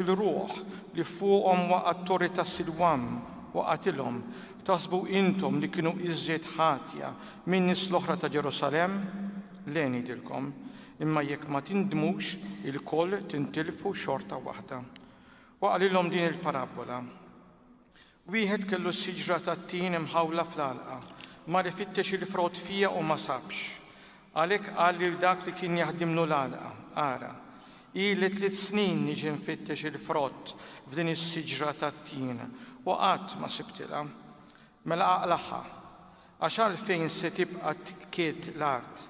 Il-ruħ li fuqhom waqa' t-Torri ta' Silwam waqgħetilhom, taħsbu intom li kienu iżjed ħatja min-nies l-oħra ta' Ġerusalemm? Le ngħidilkom, imma jekk ma tindmux, ilkoll tintilfu xorta waħda. Waqqalilhom din il-parabbola. Wieħed kellu s-siġra tat-tin imħawla fl-għalqa, mar ifittex il-frott fiha u ma sabx. Għalhekk qal lil dak li kien jaħdimlu l-għalqa, Ara, ili tliet snin niġi nfittex il-frott f'din is-siġra tat-tin u qatt ma sibtilha. Mela aqlagħha, għax għalfejn se tibqa' tkiedd l-art?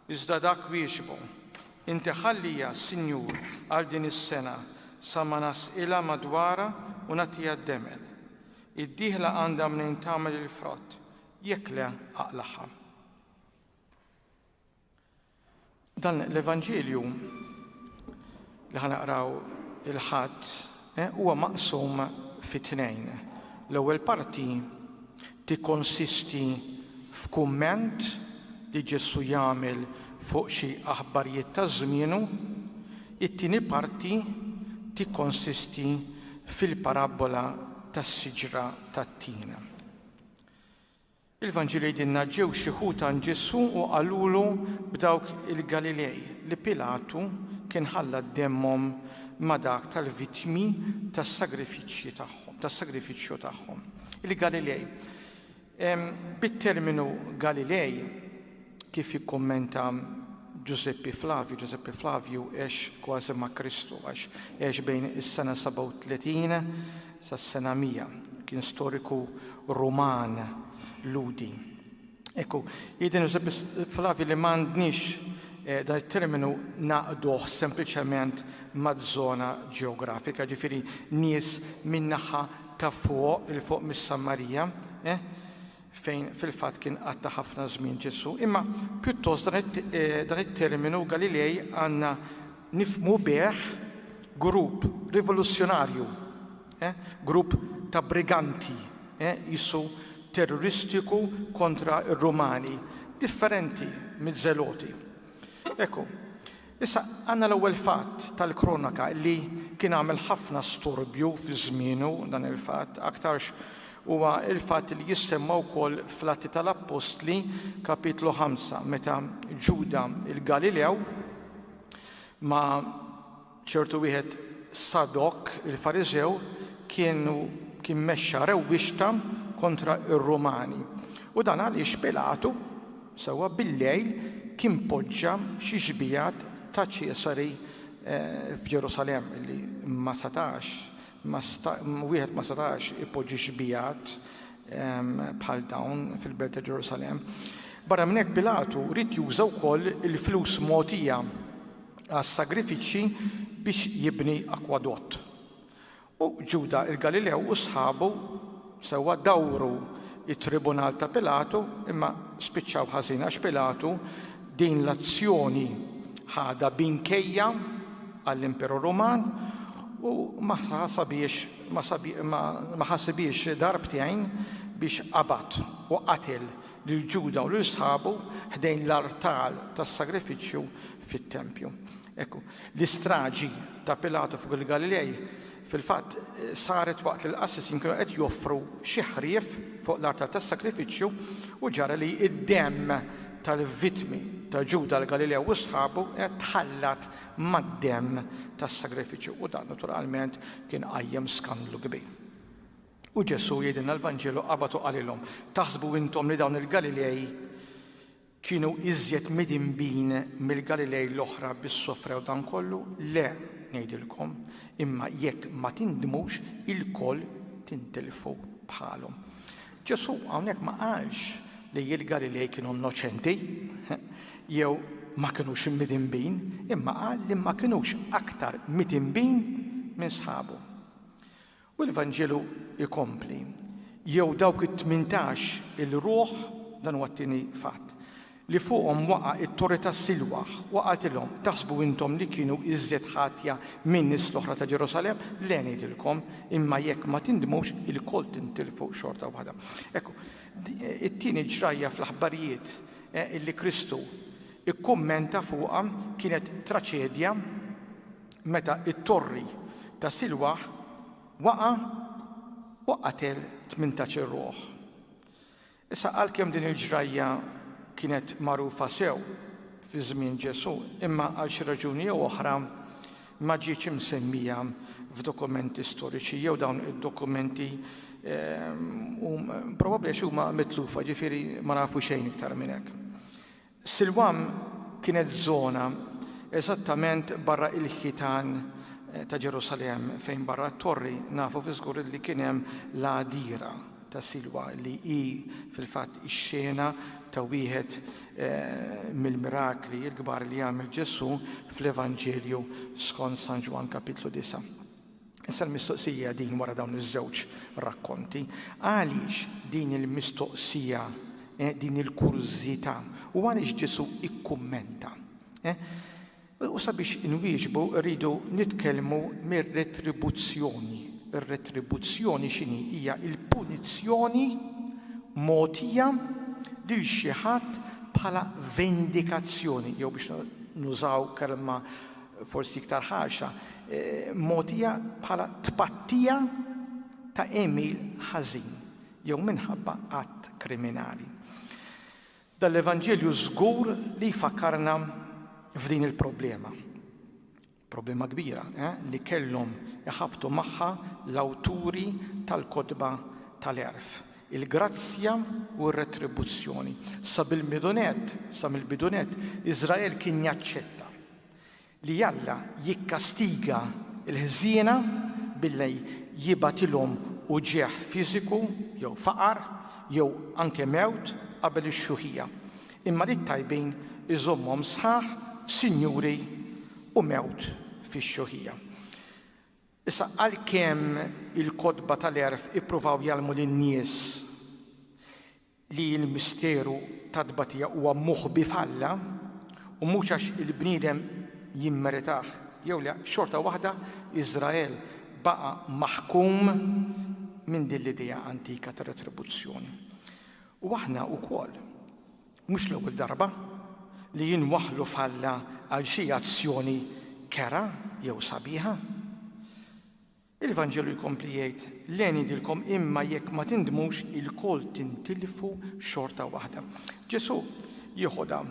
Iżda dak wieġbu, Inti ħalliha, Sinjur, għal din is-sena, sa ma nasqilha madwarha u nagħtiha d-demel. Id-dieħla għandha mnejn tagħmel il-frott, jekk le aqlagħha. Dan l-Evanġelju li ħa naqraw il-Ħadd huwa maqsum fi tnejn. L-ewwel parti tikkonsisti f'kumment li Ġesù jagħmel fuq xi aħbarjiet ta' żmienu, it-tieni parti tikkonsisti fil-parabbola tas-siġra tat-tin. Il-Vanġil jgħidilna, Ġew xi ħut għand Ġesù u qalulu b'dawk il-Galilej li Pilatu kien ħalla demmhom ma' dak tal-vittmi tas-sagrifiċċji tagħhom, tas-sagrifiċċju tagħhom. Il-Galilej. Bit-terminu Galilej, Kif jikkummenta Ġużeppi Flavju, Ġużeppi Flavju għex kważi ma' Kristu, għax għex bejn is-sena 37 sas-sena 100. Kien storiku Ruman, Lhudi. Ekku, jgħidilna Ġużeppi Flavju li m'għandniex dan it-terminu naqduh sempliċement maż-żona ġeografika, ġifieri nies min-naħa ta' fuq, 'il fuq mis-Sammarija, fejn fil-fatt kien qatta' ħafna żmien Ġesù, imma pjuttost dan it-terminu Galilej għandna nifhmu bih grupp rivoluzzjonarju, grupp ta' briganti, qisu terroristiku kontra r-Rumani, differenti miż-Żeloti. Ekku, Issa, għandna l-ewwel fatt tal-Kronaka li kien għamel ħafna storbju fi żmienu, dan il-fatt, aktarx huwa l-fatt li jissemma wkoll fl-Atti tal-Appostli, Kapitlu ħamsa, meta Ġuda l-Galilew ma' ċertu wieħed Sadok il-Fariżew kienu kien mexxa rewwixta kontra r-Rumani. U dan għaliex Pilatu Sewwa bil-lejl kien poġġa xi xbijat ta' Ċesari f'Ġerusalemm, li ma setax, wieħed ma setax ipoġġi xbijat bħal dawn fil-belt ta' Ġerusalemm. Barra minn hekk Pilatu ried juża wkoll il-flus mogħtija għas-sagrifiċċji biex jibni akwadott. U Ġuda il-Galilew u sħabu, sewwa, dawru t-tribunal ta' Pilatu, imma spiċċaw ħażin għax Pilatu din l-azzjoni ħadha b' inkejja għall-Imperu Ruman u ma ħasabhiex ma ħasibhiex darbtejn biex qabad u qatel lil Ġuda u lil sħabu ħdejn l-artal tas-sagrifiċċju fit-tempju. Ekku, L-istraġi ta' Pilatu fuq il-Galilej fil-fatt saret waqt li l-qassisin kienu qed joffru xi ħrief fuq l-artal tas-sagrifiċċju u ġara li d-demm tal-vittmi ta' Ġuda l-Galilew u sħabu kienet tħallat mad-demm tas-sagrifiċċju u dan naturalment kien qajjem skandlu kbir. U Ġesù jgħidilna l-Vanġelu qabad u qalilhom, Taħsbu intom li dawn il-Galilej Kienu iżjed midinbin mill-Galilej l-oħra bi ssofrew dan kollu? Le, ngħidilkom, imma jekk ma tindmux, ilkoll tintilfu bħalhom. Ġesù hawnhekk ma qalx li l-Galilej kienu nnoċenti jew ma kinux imidinbin, imma qal li ma kinux aktar midinbin minn sħabhom. U l-Vanġelu jkompli, Jew dawk it-tmintax il-ruħ, dan huwa t-tieni fatt, li fuqhom waqa' it-torri tas-Silwaħ, u qatilhom, taħsbu intom li kienu iżjed ħatja min-nies l-oħra ta' Ġerusalemm? Le ngħidilkom, imma jekk ma tindmux, ilkoll tintilfu xorta waħda. Ekk, it-tieni ġrajja fl-aħbarijiet li Kristu kkummenta fuqha kienet traċedja, meta t-torri ta' Silwah waqa' u qatel tmintax irruħ. Issa għalkemm din il-ġrajja kienet magħrufa sew fi żmien Ġesù, imma għal xi raġuni jew oħra ma ġietx imsemmija f'dokumenti storiċi jew dawn id-dokumenti probabbli għax huma mitlufa, jiġifieri ma nafu xejn iktar minn hekk. Silwam kienet żona eżattament barra il-ħitan ta' Ġerusalemm fejn barra t-torri nafu fiżgur li kien hemm l-għadira ta' Silwa li hi fil-fatt ix-xena ta' wieħed mill-mirakli l-kbar li għamel Ġesù fl-Evanġelju skont San Ġwann Kapitlu 9. Issa l-mistoqsija hija din wara dawn iż-żewġ rakkonti, għaliex din il-mistoqsija, din il-kurżità, u għaliex Ġesù ikkummenta? U sabiex inwieġbu rridu nitkellmu mir-retribuzzjoni. Ir-retribuzzjoni x'inhi? Hija l-punizzjoni mogħtija lil xi ħadd bħala vendikazzjoni, jew biex nużaw kelma forsi iktar ħarxa, mogħtija bħala tpattija ta' għemil ħażin jew minħabba att kriminali. Dan l-Evanġelju żgur li jfakkarna f'din il-problema. Problema kbira eh, li kellhom iħabtu magħha l-awturi tal-kotba tal-erf il-grazzja u r-retribuzzjoni. Sa bil-bidunet, sa mill-bidunet, Iżrael kien jaċċetta li Alla jikkastiga l-ħżiena billi jibgħatilhom uġigħ fiżiku jew faqar jew anke mewt qabel ix-xjuħija, imma lit-tajbin iżommhom sħaħ sinjuri u mewt fix-xjuħija. Issa, għalkemm il-kotba tal-għerf ippruvaw jgħallmu lin-nies li l-misteru tat-tbatija huwa moħbi f'Alla u mhux għax il-bniedem jimmeritah jew le, xorta waħda Iżrael baqa' maħkum minn din l-idea antika ta' retribuzzjoni. U aħna wkoll, mhux l-ewwel darba, li inwaħħlu f'Alla għal xi azzjoni kerha jew sabiħa. Il-Vanġelu jkompli jgħid, Le ngħidilkom, imma jekk ma tindmux, ilkoll tintilfu xorta waħda. Ġesù jieħodha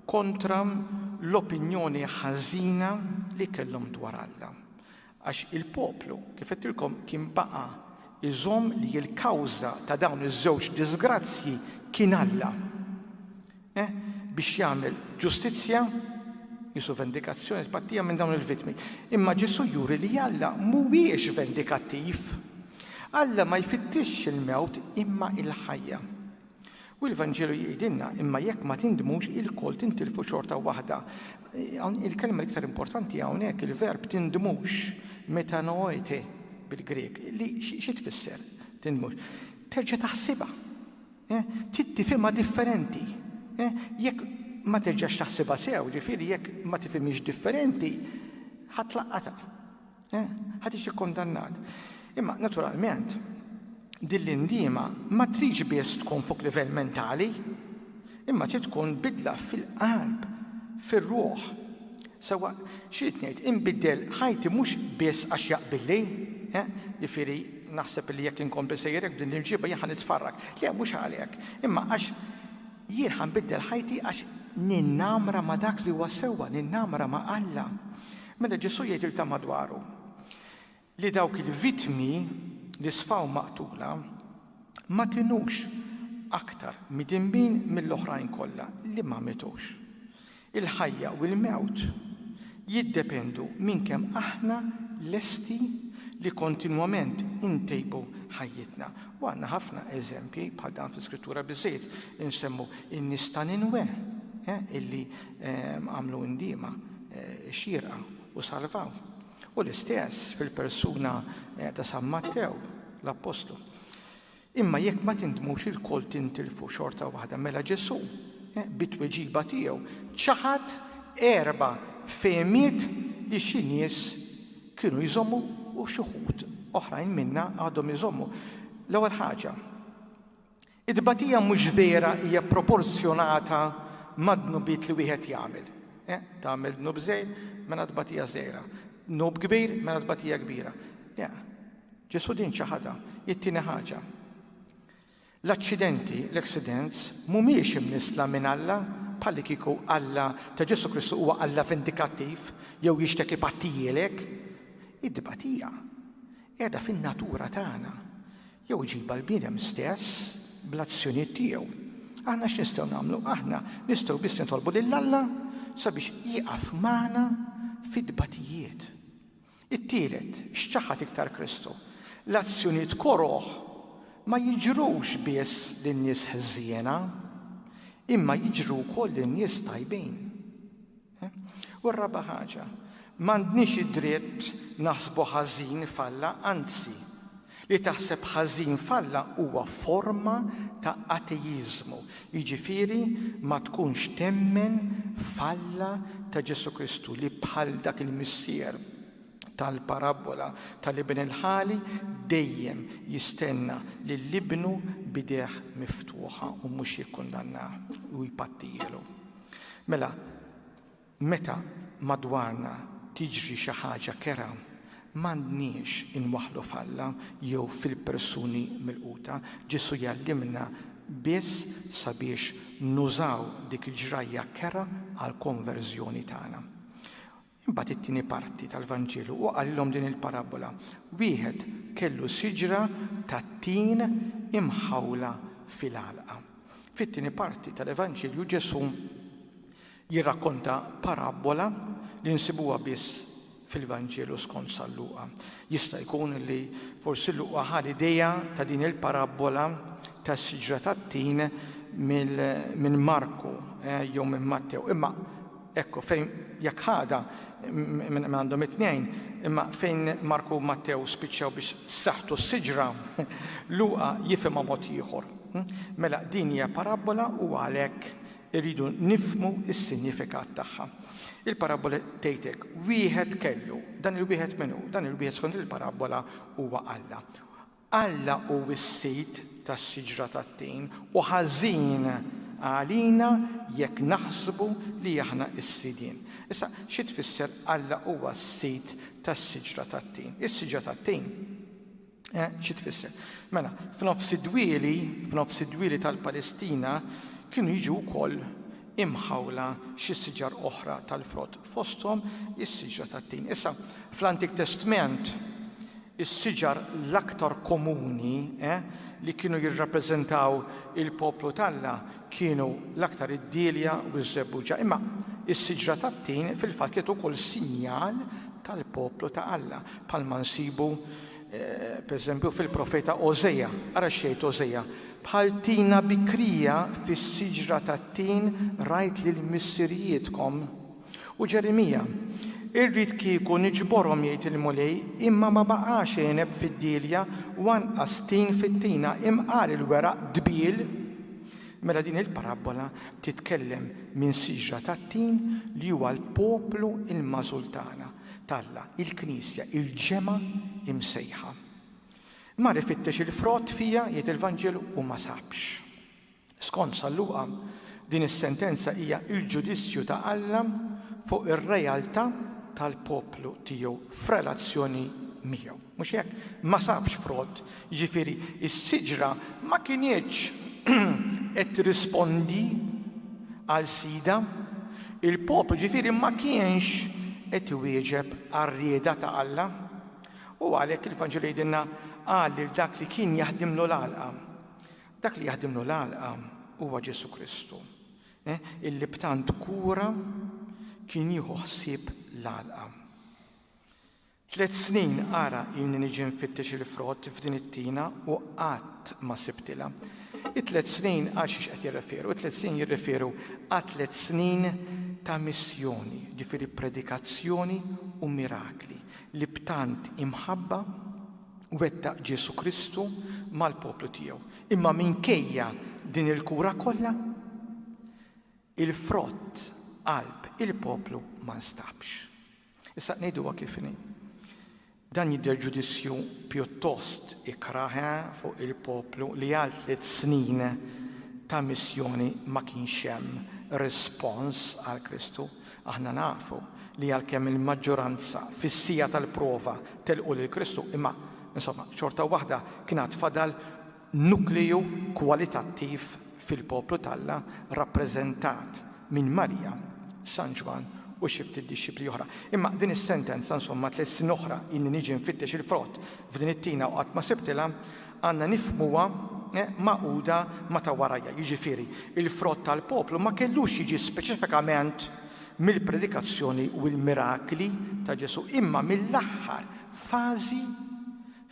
kontra l-opinjoni ħażina li kellhom dwar Alla. Għax il-poplu, kif għedtilkom, kien baqa' jżomm li l-kawża ta' dawn iż-żewġ diżgrazzji kien Alla. E. Biex jagħmel ġustizzja, qisu vendikazzjoni, tpattija minn dawn il-vittmi. Imma Ġesù juri li Alla mhuwiex vendikattiv. Alla ma jfittixx il-mewt imma l-ħajja. U l-Vanġelu jgħidilna, imma jekk ma tindmux ilkoll tintilfu xorta waħda. Il-kelma l-iktar importanti hawnhekk, il-verb tindmux, metanoete bil-Grieg, li xi tfisser tindmux? Terġa' taħsibha. Trid tifhimha differenti. Jekk ma terġax taħsibha sew, ġifieri jekk ma tifhimhiex differenti, ħa tlaqqatha. Ħa tiġi kkundannat. Imma, naturalment, din l-indiema ma tridx biss tkun fuq livell mentali, imma trid tkun bidla fil-qalb, fir-ruħ. Sewwa, x'ridt ngħid, inbiddel ħajti mhux biss għax jaqbilli, eħ, jiġifieri naħseb li jekk inkompli sejjer hekk b'din l-irġiebha jien ħa nitfarrak. Le, mhux għalhekk, imma għax jien ħa nbiddel ħajti għax ninnamra ma' dak li huwa sewwa, ninnamra ma' Alla. Mela Ġesù jgħidiltha madwaru, li dawk il-vittmi li sfaw maqtula ma kinux aktar midinbin mill-oħrajn kollha li ma mietux. Il-ħajja u l-mewt jiddependu minn kemm aħna lesti li kontinwament intejbu ħajjitna. U għandna ħafna eżempji bħal dan fl-Iskrittura biżżejjed insemmu n-nies ta' Ninwe illi għamlu ndiema xierqa u salvaw. U l-istess fil-persuna ta' San Mattew, l-Appostlu. Imma jekk ma tindmux ilkoll tintilfu xorta waħda, mela Ġesù, bit-tweġiba tiegħu, ċaħad erba' fehmiet li xi nies kienu jżommu u xi wħud oħrajn minna għadhom iżommu. L-ewwel ħaġa, It-tbatija mhux vera hija proporzjonata mad-dnubiet li wieħed jagħmel. Tagħmel dnub żgħir, mela tbatija żgħira. Dnub kbir, mela tbatija kbira. Le, Ġesù din ċaħadha, hi t-tieni ħaġa. L-aċċidenti, l-accidents, mhumiex imnissla minn Alla, bħallikieku Alla ta' Ġesù Kristu huwa Alla vendikattiv jew jixtieq ipattijielek. It-tbatija qiegħda fin-natura tagħna. Jew iġibha l-bniedem stess bl-azzjonijiet tiegħu. Aħna x'nistgħu nagħmlu? Aħna nistgħu biss nitolbu lil Alla sabiex jieqaf magħna fit-tbatijiet. It-tielet, x'ċaħad iktar Kristu? L-azzjonijiet koroh ma jiġrux biss lin-nies ħżiena, imma jiġru wkoll lin-nies tajbin. U r-raba' ħaġa, m'għandniex id-dritt naħsbu ħażin f'Alla, anzi, li taħseb ħażin f'Alla huwa forma ta' ateiżmu, jiġifieri ma tkunx temmen f'Alla ta' Ġesù Kristu li bħal dak il-missier tal-parabbola tal-Iben il-Ħali dejjem jistenna lil ibnu b'idejh miftuħa u mhux jikkundannah u jpattijielu. Mela, meta madwarna tiġri xi ħaġa kerha, m'għandniex inwaħħlu f'Alla jew fil-persuni milquta. Ġesù jgħallimna biss sabiex nużaw dik il-ġrajja kerha għall-konverżjoni tagħna. Imbagħad it-tieni parti tal-Vanġelu, u qalilhom din il-parabbola, Wieħed kellu siġra tat-tin imħawla fil-għalqa. Fit-tieni parti tal-Evanġelju Ġesù jirrakkonta parabbola li nsibuha biss fil-Vanġelu skont San Luqa. Jista' jkun li forsi Luqa ħa l-idea ta' din il-parabbola tas-siġra tat-tin minn Marku eh, jew minn Mattew, imma Hekk hu, fejn jekk ħadha minn għandhom it-tnejn, imma fejn Marku u Mattew spiċċaw biex saħtu s-siġra, Luqa jifhimha mod ieħor. Mela, din hija parabbola u għalhekk irridu nifhmu s-sinjifikat tagħha. Il-parabbola tgħid hekk, wieħed kellu, dan il-wieħed min hu? Dan il-wieħed skont il-parabbola huwa Alla. Alla hu s-sid tas-siġra tat-tin u ħażin għalina jekk naħsbu li aħna s-sidien. Issa, xi tfisser Alla huwa s-sid tas-siġra tat-tin? Is-siġra tat-tin, eh, xi tfisser? Mela, f'nofs id-dwieli, f'nofs id-dwieli tal-Palestina kienu jiġu wkoll imħawla xi siġar oħra tal-frott, fosthom is-siġra tat-tin. Issa, fl-Antik Testment, Is-siġar l-aktar komuni li kienu jirrappreżentaw il-poplu t'Alla kienu l-aktar id-dielja u ż-żebbuġa. Imma s-siġra tat-tin fil-fatt kienet ukoll sinjal tal-poplu ta' Alla, bħalma nsibu, pereżempju, fil-profeta Ożeja. Ara x'jgħid Ożeja, Bħal tina bikrija fis-siġra tat-tin rajt lill-missirijietkom. U Ġerimija, Irrid kieku niġborhom, jgħid il-Mulej, imma ma baqax għeneb fid-dielja u anqas tin fit-tina, imqar il-weraq dbiel. Mela din il-parabbola titkellem minn siġra tat-tin li huwa l-poplu l-magħżul tagħna, t'Alla, il-Knisja, il-ġemgħa imsejħa. Mar ifittex il-frott fiha, jgħid il-Vanġelu, u ma sabx. Skont San Luqa, din is-sentenza hija l-ġudizzju ta' Alla fuq ir-realtà tal-poplu tiegħu f'relazzjoni miegħu. Mhux hekk? Ma sabx frott, jiġifieri s-siġra ma kinitx qed tirrispondi għal sidha, il-poplu ġifieri ma kienx qed iwieġeb għar-rieda ta' Alla. U għalhekk il-Vanġelu jgħidilna qal lil dak li kien jaħdimlu l-għalqa, Dak li jaħdimlu l-għalqa huwa Ġesù Kristu, illi b'tant kura kien jieħu ħsieb l-għalqa. Tliet snin ara ilni niġi nfittex il-frott f'din it-tina u qatt ma sibtilha. It-tliet snin għal xiex qed jirreferu? It-tliet snin jirreferu għal tliet snin ta' missjoni, ġifieri predikazzjoni u mirakli li b'tant imħabba wettaq Ġesù Kristu mal-poplu tiegħu. Imma minkejja din il-kura kollha, il-frott qalb il-poplu ma nstabx. Issa ngħiduha kif inhi. Dan jidher ġudizzju pjuttost ikrah eh, fuq il-poplu li għal tliet snin ta' missjoni ma kienx hemm rispons għal Kristu. Aħna nafu li għalkemm il-maġġoranza fis-siegħa tal-prova telqu lil Kristu, imma, insomma, xorta waħda kien għad fadal nukleu kwalitattiv fil-poplu t'Alla rappreżentat minn Marija, San Ġwann u xi ftit dixxipli oħra. Imma din is-sentenza, insomma, tliet snin oħra ilni niġi nfittex il-frott f'din it-tina u qatt ma sibtilha, Għandna nifhmuha magħquda ma' ta' warajja, jiġifieri, il-frott tal-poplu ma kellux jiġi speċifikament mill-predikazzjoni u l-mirakli ta' Ġesù imma mill-aħħar fażi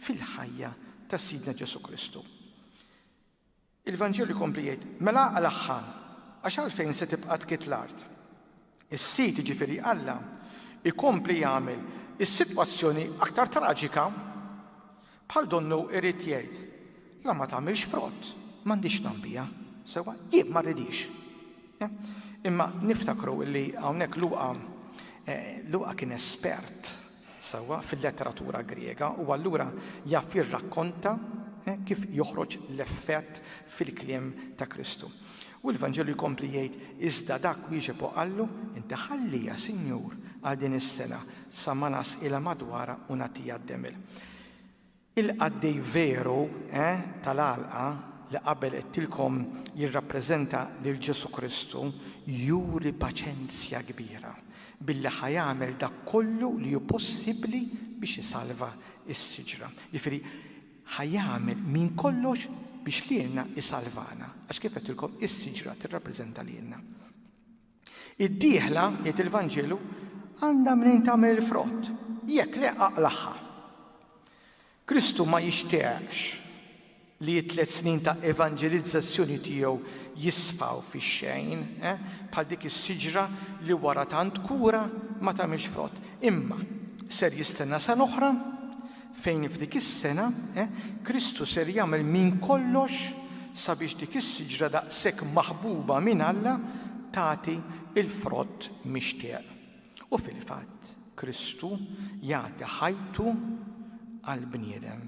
fil-ħajja ta' Sidna Ġesù Kristu. Il-Vanġelu jkompli jgħid, Mela aqlagħha, għax għalfejn se tibqa' tkit l-art? Is-Sid, jiġifieri Alla, ikompli jagħmel is-sitwazzjoni aktar traġika, bħal donnu irid jgħid, La ma tagħmilx frott, m'għandix tagħm biha. Sewwa? Jien ma rridhiex. Imma niftakru li hawnhekk Luqa, Luqa kien espert. sewwa fil-letteratura Griega, u allura jaf jirrakkonta kif joħroġ l-effett fil-kliem ta' Kristu. U l-Vanġelu jkompli jgħid, Iżda dak wieġeb u qallu, Inti ħallija, Sinjur, għal din is-sena, sa ma nasqilha madwarha u nagħtiha d-demel. Il-qaddej veru, eh, tal-għalqa, li qabel għedtilkom jirrappreżenta lil Ġesù Kristu, juri paċenzja kbira billi ħa jagħmel dak kollu li hu possibbli biex isalva s-siġra. Jiġifieri, ħa jagħmel minn kollox biex lilna isalvana, għax kif għedtilkom is-siġra tirrappreżenta lilna. Id-dieħla, jgħid il-Vanġelu, għandha mnejn tagħmel il-frott, jekk le aqlagħha. Kristu ma jixtieqx li t-tliet snin ta' evanġelizzazzjoni tiegħu jisfaw fix-xejn, bħal dik is-siġra li wara tant kura ma tagħmilx frott. Imma ser jistenna sena oħra Fejn f'dik is-sena, Kristu ser jagħmel minn kollox sabiex dik is-siġra daqshekk maħbuba minn Alla tagħti l-frott mixtieq. U fil-fatt, Kristu jagħti ħajtu għall-bniedem.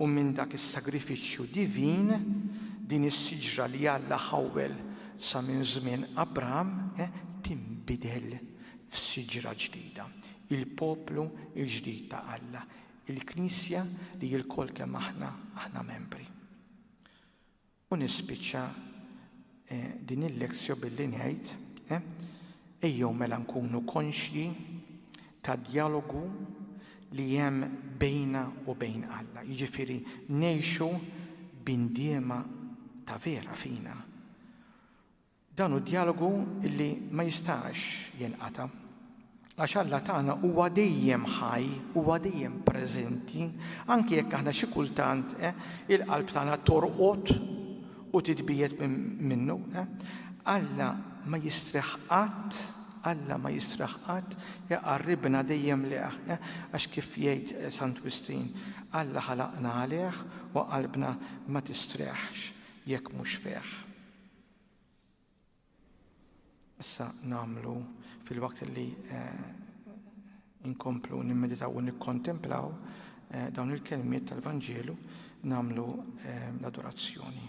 U minn dak is-sagrifiċċju divin, din is-siġra li Alla ħawwel sa minn żmien Abraham tinbidel f'siġra ġdida. il-poplu l-ġdid ta' Alla, il-Knisja li lkoll kemm aħna, aħna membri. U nispiċċa din il-lezzjo billi ngħid, ejjew mela nkunu konxji tad-djalogu li hemm bejna u bejn Alla, jiġifieri ngħixu b'indiema ta' vera fina. Dan hu djalogu li ma jistax jinqata'. Għax Alla tagħna huwa dejjem ħaj, huwa dejjem preżenti, anki jekk aħna xi kultant il-qalb tagħna torqod u titbiegħed minnu. Alla ma jistrieħ qatt, Alla ma jistrieħ qatt, iqarribna dejjem lejh, għax kif jgħid Sant Wistin, Alla ħalaqna għalih u qalbna ma tistrieħx jekk mhux fih. Issa nagħmlu fil-waqt li eh, inkomplu nimmeditaw u nikkontemplaw eh, dawn il-kelmiet tal-Vanġelu nagħmlu eh, l-adorazzjoni.